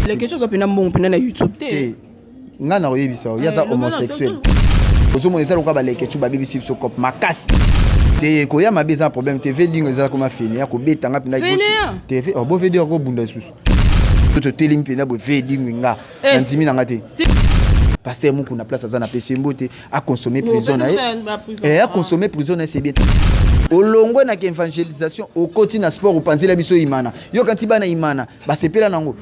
leketio oza mpena mbongo mpena na youtube te ngai nakoyebisa yo ye aza eh, homosexuel ozomona eza lokola baleketio babebisi biso cope makasi te koya mabe eza na problème te vedingo eza koma fene ya kobeta nga mpena bo vedi akobunda lisusu totelemi mpena bo vedingo nga eh. nandimi na nga te pasteur moko na place aza na pesi mbote aconsomme prison na ye eh, aconsomme prison na ye c'est bien olongwe na k'evangelisation okoti na sport opanzela biso imana yo kanti bana imana basepela nango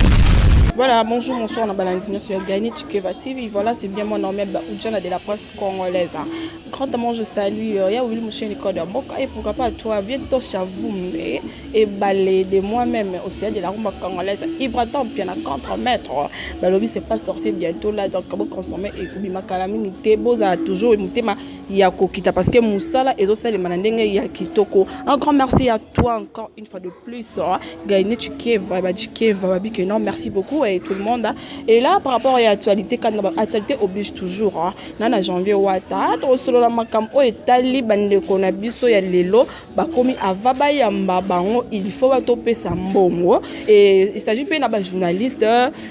Voilà, bonjour, bonsoir, on a sur Gani Chikeva TV. Voilà, c'est bien mon nom, Oudjana de la presse congolaise. Hein. Grandement, je salue euh, Yaouli Mouché Nicole de Boka et pourquoi pas toi, viens toi, vous, mais Ebale de moi meme au sein de la rumba congolaise Ibra Tampia na contre maître balobi c'est pas sorcier bientôt là donc bo consommer et kubi makala mingi te boza toujours mutema ya kokita parce que musala ezo salema na ndenge ya kitoko un grand merci à toi encore une fois de plus hein. Gaine Chikeva ba Chikeva ba bike non merci beaucoup et tout le monde hein. et là par rapport à l'actualité quand l'actualité oblige toujours hein. na na janvier wata to solo la makam o etali bande ko na biso ya lelo bakomi ava bayamba bango il faut batopesa mbongo et il s'agit mpe na bajournaliste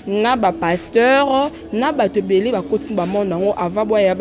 na bapasteur na bato ebele bakoti na bamonde yango ava boya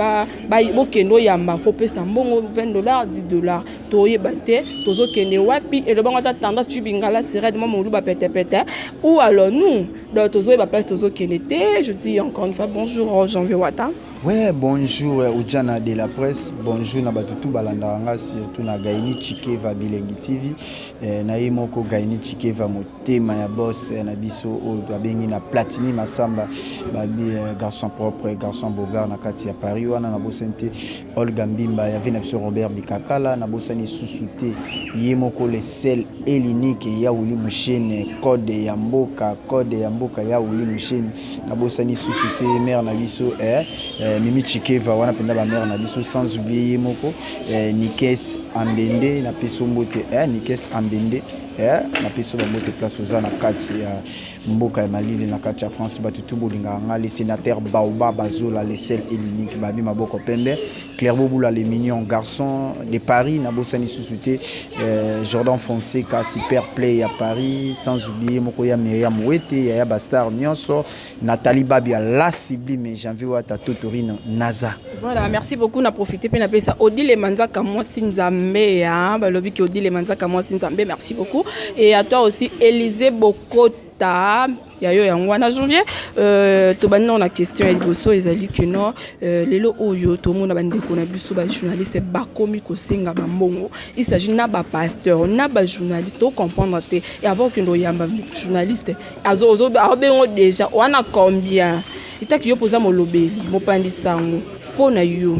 bokende oyamba fo pesa mbongo 20 dollar 10 dollar toyeba te tozokende wapi elobango ata tendance tu bingala serede mwa moluba petepete ou alors nous donc tozoyeba place tozokende te je dis encore une fois bonjour janvier wata Ouais, bonjour Ujana de la presse, bonjour na bato tout balandaka nga surtout na Gaini Chikeva Bilengi TV eh, na ye moko Gaini Chikeva motema ya boss eh, na biso oyo babengi na Platini Masamba babi eh, garçon propre garçon bogar na kati ya Paris wana na bosani te Olga Mbimba ya na biso Robert Bikakala na bosani susu te ye moko le sel elinique ya Wili Mushene code ya mboka code ya mboka ya Wili Mushene nabosani susu te mère na biso eh, eh, mimi chikeva wana mpenza bamère na biso sans oublie ye moko eh, nikes ambende na peso mbote eh, nikes ambende eh, na peso bango te place oza na kati ya mboka ya malili na kati ya france bato tu bolingaka ngai le sénateur baoba bazola le sel et l'unique babi maboko pembe Clerbo Boula les mignons garçons de Paris na bosani susu te euh, Jordan Fonseca super play à Paris sans oublier moko ya Myriam Wete ya ya Bastar Nionso Nathalie Babia la sublime Janvier Wata Totorino Naza Voilà merci beaucoup na profiter pe na pesa Odile Manzaka moi Nzambe hein balobi ki Odile Manzaka moi Nzambe merci beaucoup et à toi aussi Élisée Bokota ya yo yango wana janvier euh, tobandi nao na question ya liboso ezali que no euh, lelo oyo tomona bandeko na biso bajournaliste bakomi kosenga bambongo il s'agit na bapasteur na bajournaliste tocomprendre te e avant okende oyamba journaliste aobengo déjà wana combien etaki yo mpoza molobeli mopandi sango mpo na yo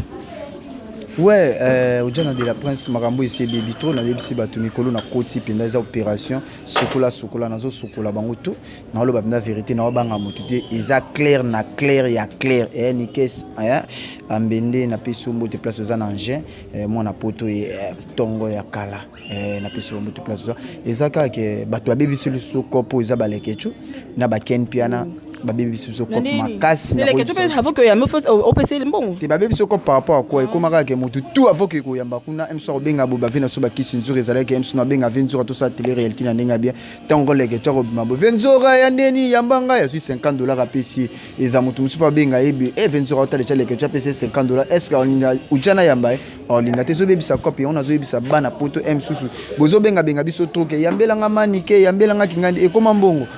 ouais euh, ojana de la prince makambo esi ebebi trop nayebisi bato mikolo na koti mpenza eza opération sukola sukola nazo sukola bango tout na oloba bina verite na obanga mutu te eza clair na clair ya clair eh ni kes eh ambende na peso mbote place oza na engin eh, mwana poto e eh, tongo ya kala eh, na peso mbote place oza eza kaka bato babebisi liso kopo eza balekechu na baken piana mm. babebisi biso cope makasi avant que yambe first opesa ye mbongo te babebisi yo cope par rapport à quoi ekoma kaka ke motu tout avant que koyamba kuna mso akobenga boye bave na so bakisi nzuri ezalaki mso na benga ve nzura tosala tele réalité na ndenge bien ntango koleke to akobima boye ve nzora ya nde nini yamba ngai azwi 50 dollar apesi ye eza motu mosusu mpe abenga ye be e ve nzora otaleca leke to apesi ye 50 dollar est ce que aolinga uja na yamba ye aolinga te ezobebisa cope yango nazoyebisa bana poto m susu bozobengabenga biso troke yambelanga manike yambelanga kingandi ekoma mbongo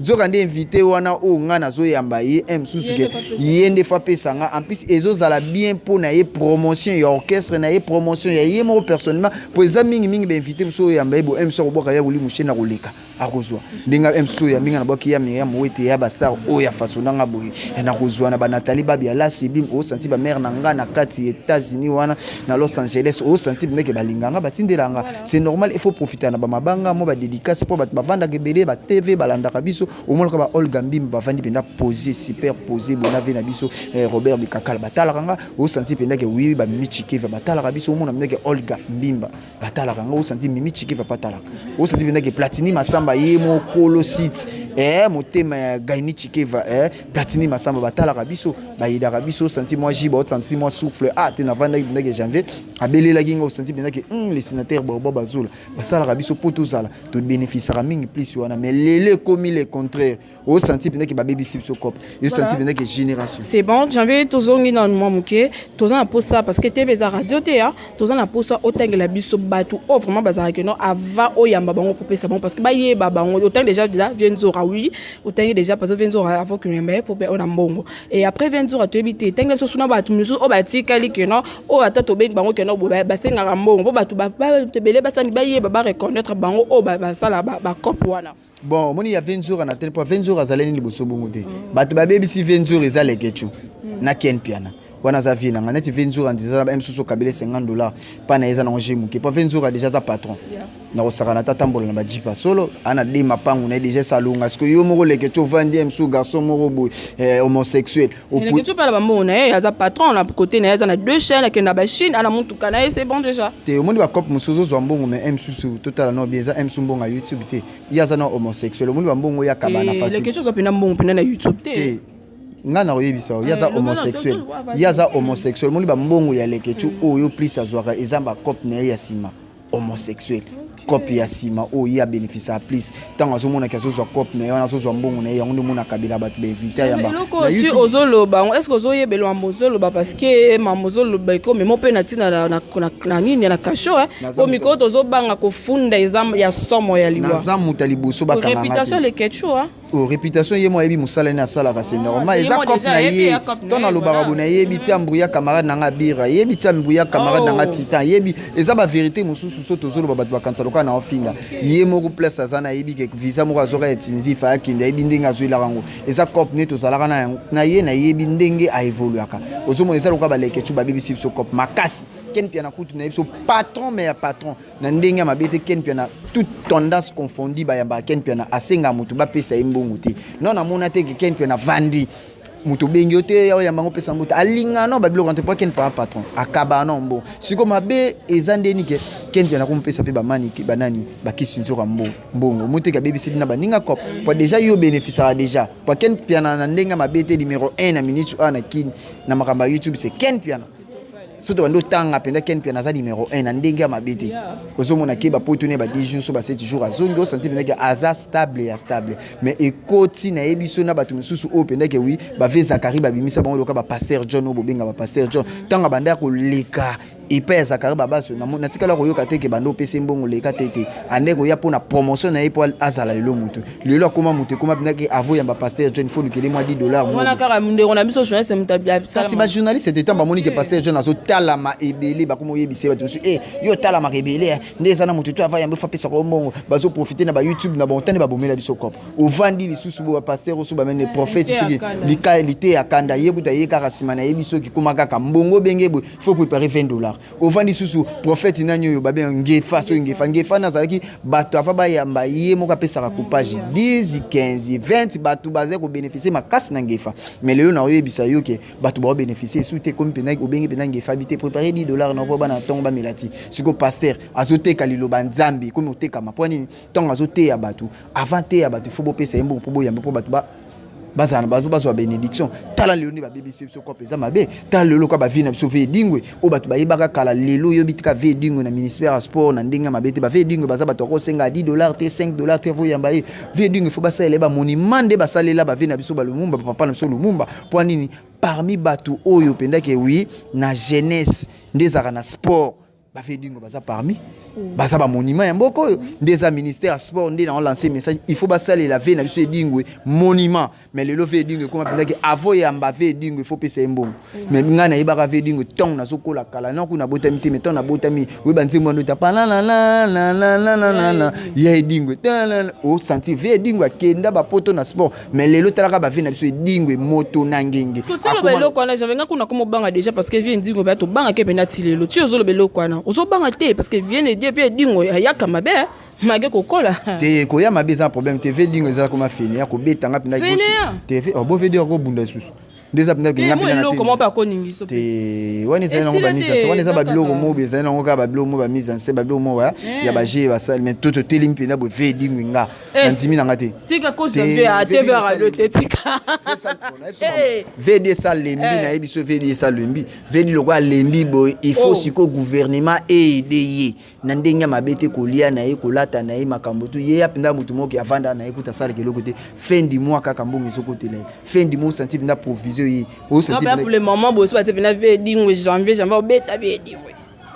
nzoka nde invité wana oyo ngai nazoyamba ye un mosusu ke ye nde fa apesa ngai en plus ezozala bien mpo na ye promotion ya orchestre na ye promotion ya ye moko personnellement mpo eza mingimingi bainvité mosusu oyo oyamba ye bo un mosusu akobwaka ya kolimu sheni akoleka akozwa ndenge un mosusu oyambi ngai nabwaki ya miriam owete ya bastar oyo ya faso na ngai boye eh, nakozwa na banatali babi ya la sibim osanti bamare na ngai na kati ya états-unis wana na los angeles osanti bameke balinga ngai batindela ngai C'est normal, il faut profiter na ba mabanga, moi ba dédicace pour ba bavanda gebele, ba TV, ba landa kabiso, au moins ba Olga Mbim ba vandi penda poser, super poser, bona vie na biso, eh, Robert de Kakal ba tala kanga, au senti penda que oui, ba mimi chike va ba tala kabiso, au moins na que Olga Mbimba ba tala kanga, au senti mimi chike va pas tala, au senti penda que Platini Masamba ye mo kolo site, eh, motema ya Gaini chike va, eh, Platini Masamba ba tala kabiso, ba yida kabiso, senti moi jiba, senti moi souffle, ah, te na vanda penda que janvier, abelelaki nga osanti mpenza ke mm, le sénateur baoba bazola basalaka biso mpo tozala tobénéficiaka mingi plus wana mais lelo ekomi le contraire osanti mpenza ke babebisi biso cope esanti mpenza ke génération c'est bon janvier tozongi na mwa moke toza na mposa parce que tebe eza radio te ya toza na mposa otangela biso bato oyo vraiment bazalaka keno avant oyamba bango kopesa bango parce que bayeba bango otangi déjà déjà vie nzora oui otangi déjà parce que vie nzora avant kino yamba ye fo mpe oyo na mbongo et après vie nzora toyebi te etangela biso suna bato mosusu oyo batikali keno oyo ata tobengi bango kende boye basengaka mbongo mpo bato ebele basani bayeba bareconnaitre bango oyo basala bacope wana bon omoni ya venzura na tele mpo venzura azali nini liboso bongo te mm. bato babebisi venzura eza lekecu mm. na ken piana wana aza vie nanga neti venzura ndiza aza ba msusu kabila 50 dollar mpa na ye eza nango je moke mpo venzura deja aza patron yeah. na kosakana ata tambola na bajipa solo ana de mapangu na ye deja esalonga siko yo moko lekece ovandi ye mosusu garçon moko boye eh, homosexuel lekece mpe na bambongo na ye aza patron na kote na ye aza na deux chaine akende na bachine ana motuka na ye se bon deja te omoni bacope mosusu ozozwa mbongo me eh, msusu totala no bie eza eh, msu mbongo ya youtube te ye aza na homosexuel omoni bambongo ya kabana fasi lekece ozwa mpenza mbongo mpenza na youtube te ngai nakoyebisa yo ye aza eh, homosexuel ye aza homosexuel omoni bambongo ya lekece oyo plus azwaka eza bacope na ye ya nsima homosexuel cope ya nsima oyo ye abénéficia plus ntango azomonaki azozwa cope na ye wana azozwa mbongo na ye yango nde omona kabila bato baevita ya elokoti ozoloba yango estce ozoyebela mambo ozoloba parceke mambo ozoloba ekomema mpe na ntina na nini na kasho eh. po mikolo tozobanga kofunda eza ya somo ya liwa naza moto ya liboso bakangareputation lekechua Oh, réputation ye moi yebi musala ne asalaka c'est ah, normal eza cop na ye to na lobaka bona yebi ti ambrouya camarade na nga bira yebi ti ambrouya camarade na nga oh. titan yebi eza ba vérité mususu so tozolo ba bato bakanisa lokola na ofinga ye moko place aza na yebi ke visa moko azoka ya tinzi fa akende yebi ndenge azwelaka yango eza cop ne tozalaka na yango na ye na yebi ndenge a évoluaka ozomona eza lokola baleke tu babebisi biso cop makasi ken piana kutu na ye biso patron mais ya patron na ndenge ya mabe te ken mpiana toute tendance confondu bayambaka ken mpiana asengaka moto bapesa ye mbongo te non namona te ke ken mpiana vandi moto obengi yo te yaoya mbango opesa mbote alingaka no babiloko te mpo ken mpiana patron akabaka no mbo siko mabe eza ndeni ke ken mpiana komopesa mpe bamani banani bakisi nzoka mbo mbongo moteke abebisi bina baninga cop mpo deja yo obénéficiaka deja mpo ken mpiana na ndenge ya mabe te numero 1 na minute oyo na kin na makambo ya youtube se ken mpiana soki tobandi otanga mpenza ken mpiana aza numero 1 na ndenge ya mabe te ozomona ke bapoto ne ba 10 jours so ba 7 jours azongi osanti mpenza ke aza stable ya stable mais ekoti na ye biso na bato mosusu oyo mpenza ke wi bave zakari babimisa bango loka bapaster john oyo bobenga bapaster john ntango abanda ya koleka epai ya zakari babaso natikala koyoka te ke banda opesi mbongo leka te te ande koya mpo na promotion na ye mpo azala lelo motu lelo akoma moto ekoma mpenza ke avo yamba paster john fo lukele mwa 10 dollar wana kaka ndeko na biso journaliste moto kasi bajournaliste te ntango bamoni ke paster john azotalama ebele bakoma oyebisa bato mosusu e yo otalamaka ebele eh. nde eza na moto to ava yambo fapesa kwa mbongo bazoprofite na bayoutube na bontani babomela biso kopo ovandi lisusu bo bapaster osu bamene eh, prophète soki liteya kanda ye kuta ye kaka nsima na ye biso kikoma kaka mbongo benge boye fo prepare 20 dollar ovandi susu prophète nani oyo babe ngefa soki ngefa ngefa nazalaki bato ava bayamba ye moko apesaka coupage 10 15 20 bato bazali kobeneficie makasi na ngefa me lelo na oyebisa yo ke bato baobeneficie esu te ekomi mpenza obengi mpenza ngefa bi te prépare 10 dollar na mpo bana ntongo bamela ti siko paster azoteka liloba nzambe ekomi otekama mpo nini ntango azoteya bato avant teya bato ifo bopesa ye mbongo mpo boyambe mpo bato ba bazala na bazo bazwa benediction tala lelo nde babebisi biso kope eza mabe tala lelo ka bavie na biso ve edingwe oyo bato bayebaka kala lelo oyobi tika ve edingwe na ministère ya sport na ndenge ya mabe te bave edingwe baza bato yakosenga 10 dollar te 5 dollar te voyamba ye ve edingwe fo basalela ye bamonima nde basalela bave na biso balumumba bapapa na biso lumumba mpo nini parmi bato oyo mpendake wi na jeunesse nde ezalaka na sport ba vedingo baza parmi mm. baza ba monument ya mboka oyo nde eza ministère ya sport nde na lancer message il faut basalela ve na biso edingwe monument mais lelo ve edingwe ekoma mpenza ke avo yamba ve edingwe il faut pesa ye mbongo mm. mais ngai nayebaka ve edingwe ntango nazokola kala na kuna botami te mais ntango nabotami oyeba nzembo wana ota panananananananana ya edingwe osanti ve edingwe akenda bapoto na sport mais lelo talaka bavie na biso edingwe moto na ngenge kotaloba eloko wana janve nga kuna komobanga déjà parce que vie ndingo baya tobangaki mpena ti lelo ti ozoloba eloko wana ozobanga te parce que vie nedi epi edingo ayaka mabe mage kokola te koya mabe eza problème te ve dingo eza koma fene ya kobeta nga mpena te ve obobeda lisusu nde eza mpenza kenga mpenza na te wana ezali nango bamise anse wana eza babiloko moko ezali nango kaka babiloko moko bamise anse babiloko moko ya ya baje basali mai to totelemi mpenza boye ve edingwi nga na ndimi na nga te vd esa lembi na ye biso vd esa lembi vd lokola lembi boye il faut sikoyo gouvernement eede ye na ndenge ya mabe te kolia na ye kolata na ye makambo tu ye ya mpenza moto moko avanda na ye kuta asalaka eloko te fin du mois kaka mbongo ezokotela ye fin du mois osanti mpenza provision ye pour le moment bosi batie mpenza vie edingo janvier janvier obeta vie edingo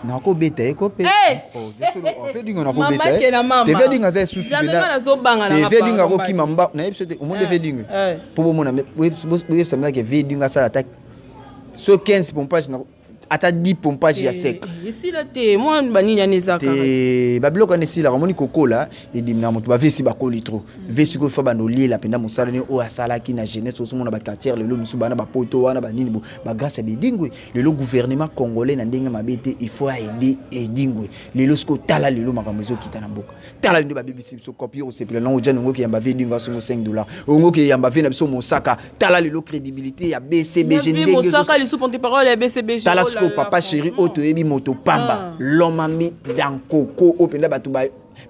nakobeta ye ko mpe vedingo nakobeta ye te vedingo aza esusu te vedingo akokima mba nayebi so te omoni nde vedingo mpo bomona boyebisamilaka vedingo asala ata so 15 pompage ata di pompage ya eh, sec eh, esila te mwa banini wana ezaka te babiloko wana esilaka omoni kokola edimi na moto bavesi bakoli trop mm. vesi koyo fa banda oliela mpenza mosala nini oyo asalaki na jeunesse osomona baquartiere lelo misu bana bapoto wana banini bo bagrâce ya bedingwe lelo gouvernement congolais na ndenge mabe te il faut aide edingwe lelo soki otala lelo makambo ezokita na mboka tala nde babebisi biso kopi osepela nango jani ongoki yamba ve edingwe asongo 5 dollar ongoki yamba ve na biso mosaka tala lelo crédibilité ya bcbg ndengezosaka lisusu porte parole ya bcbg tala oh sikoyo papa chéri oyo toyebi moto pamba ah. lomami dankoko oyo mpenza bato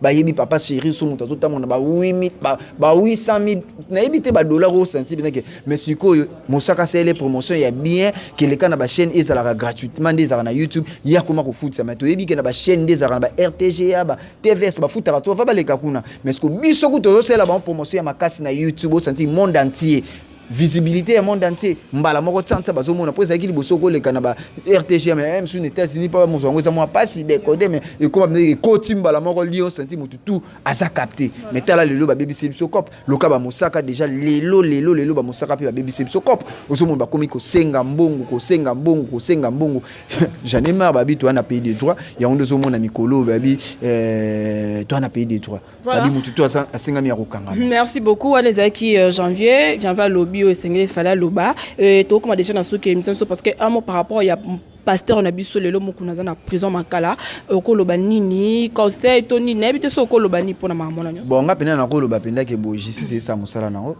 bayebi papa chéri so moto azotambola na ba 800000 nayebi te badollar oyo senti binake mais sikoyo mosaka asele promotion ya bien keleka na bachaîne ezalaka gratuitement nde ezalaka na youtube ye akoma kofutisama toyebi ke na bachaîne nde ezalaka na ba rtga ba tvs bafutaka to va baleka kuna mais ko biso kutu tozosalela bango promotion ya makasi na youtube osanti monde entier visibilité ya monde entier mbala moko tsansa bazomona mpo ezalaki liboso koleka na ba rtgm ya msu na états-unis mpo mosu yango eza mwa mpasi dekode mais ekoma mpenza ekoti mbala moko lio santi motu tu aza capte mais tala lelo babebisi biso cope loka bamosaka deja lelo lelo lelo bamosaka mpe babebisi biso cop ozomona bakomi kosenga mbongo kosenga mbongo kosenga mbongo jane mar babi toya na pays de droit yango nde ozomona mikolo oyo babi eh, toya na pays de droit babi motu to asengami ya kokanga merci beaucoup wana ezalaki euh, janvier janvier alobi oyo esengeli fale aloba euh, tokokoma deja na suki ya émission so parce que un mot par rapport ya pasteur na biso lelo mokuna aza na prison makala okoloba nini conseil to nini nayebi te so okoloba nini mpo na mama mwana nyonso bon nga mpenza nakoloba mpenza ke boye justice esala mosala nango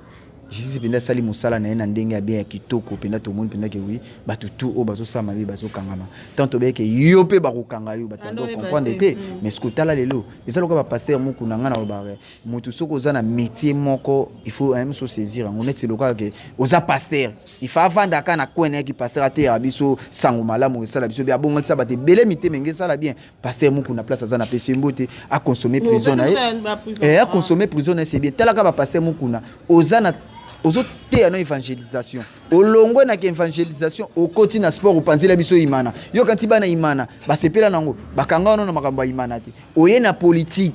justice mpenza asali mosala na ye na ndenge ya bien ya kitoko mpenza tomoni mpenza ke wi bato tu oyo bazosala mabe bazokangama tant tobeyi ke yo mpe bakokanga yo bato bando ah, comprendre te mm. mais soki otala lelo eza lokola bapaster moku na ngai na lobaka motu soki oza na métier moko il faut ayemi so saisir yango neti lokola ke oza paster ifa avanda aka na coin yaki pasteur ateyaka biso sango malamu esala biso bien abongolisa bato ebele mitema enge esala bien pasteur muku na place aza na pesi mbote aconsomme prison na ye eh, aconsomme prison na ye c'est bien talaka bapasteur mukuna oza na ozoteya no évangélisation olongwe na évangélisation okoti na sport opanzela biso imana yokanti bana imana basepela nango bakanga wano na makambo ya imana te oye na politique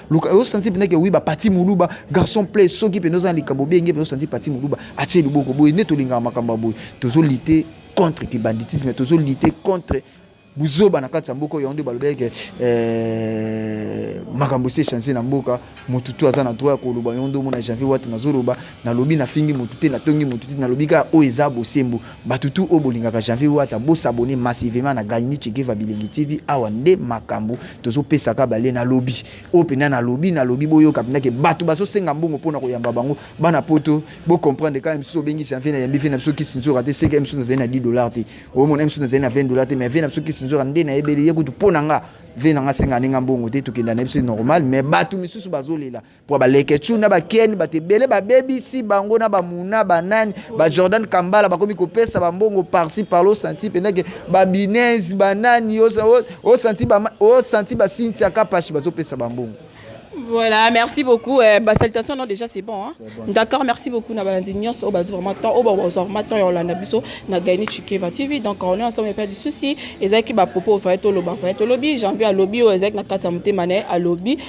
luka yo santi pendeke oui ba parti muluba garçon play soki pende oza na likambo benge pende santi parti muluba atie liboko boye nde tolingaka makambo ya boye tozo lite contre ki banditisme tozo lite contre buzoba na kati ya mboka oyo yango nde balobaki ke eh, makambo esi echange na mboka motu tu aza na droit ya koloba yango nde omona janvier wata nazoloba nalobi nafingi motu te natongi motu te nalobi kaka oyo eza bosembo Batu tout oyo bolingaka janvier wata bo s'abonner massivement na Gayini Chekeva Bilengi TV awa nde makambu tozo pesa ka bale na lobi oyo penda na lobi na lobi boyoka penda ke batu bazo senga mbongo pona koyamba bango bana poto bo comprendre ka msusu obengi janvier na yambi vie na biso kisinzora te seke msusu nazali na 10 dollars te oyo mona msusu nazali na 20 dollars te mais vie na biso kisinzora nde na yebeli ye kutu pona nga vie na nga senga ninga mbongo te tokenda na biso normal mais batu misusu bazolela mpo baleketshou na bakeni bato ebele babebisi bango na bamuna banani bajordan kambala bakomi kopesa bambongo parci parlo santi mpenza ke babines banani osanti basintia kapashi bazopesa bambongo Voilà, merci beaucoup. Euh, bah, salutations, non, déjà c'est bon. Hein? bon D'accord, merci beaucoup. Na balandi nyonso, au bazo vraiment temps, au bazo vraiment temps, on l'a biso, na gagné Chikeva TV. Donc on est ensemble, il n'y a pas de souci. Et ça qui va propos, il faut être au lobby, il faut être au lobby. J'ai envie à lobby, ou exact, na kata mouté mané, à lobby.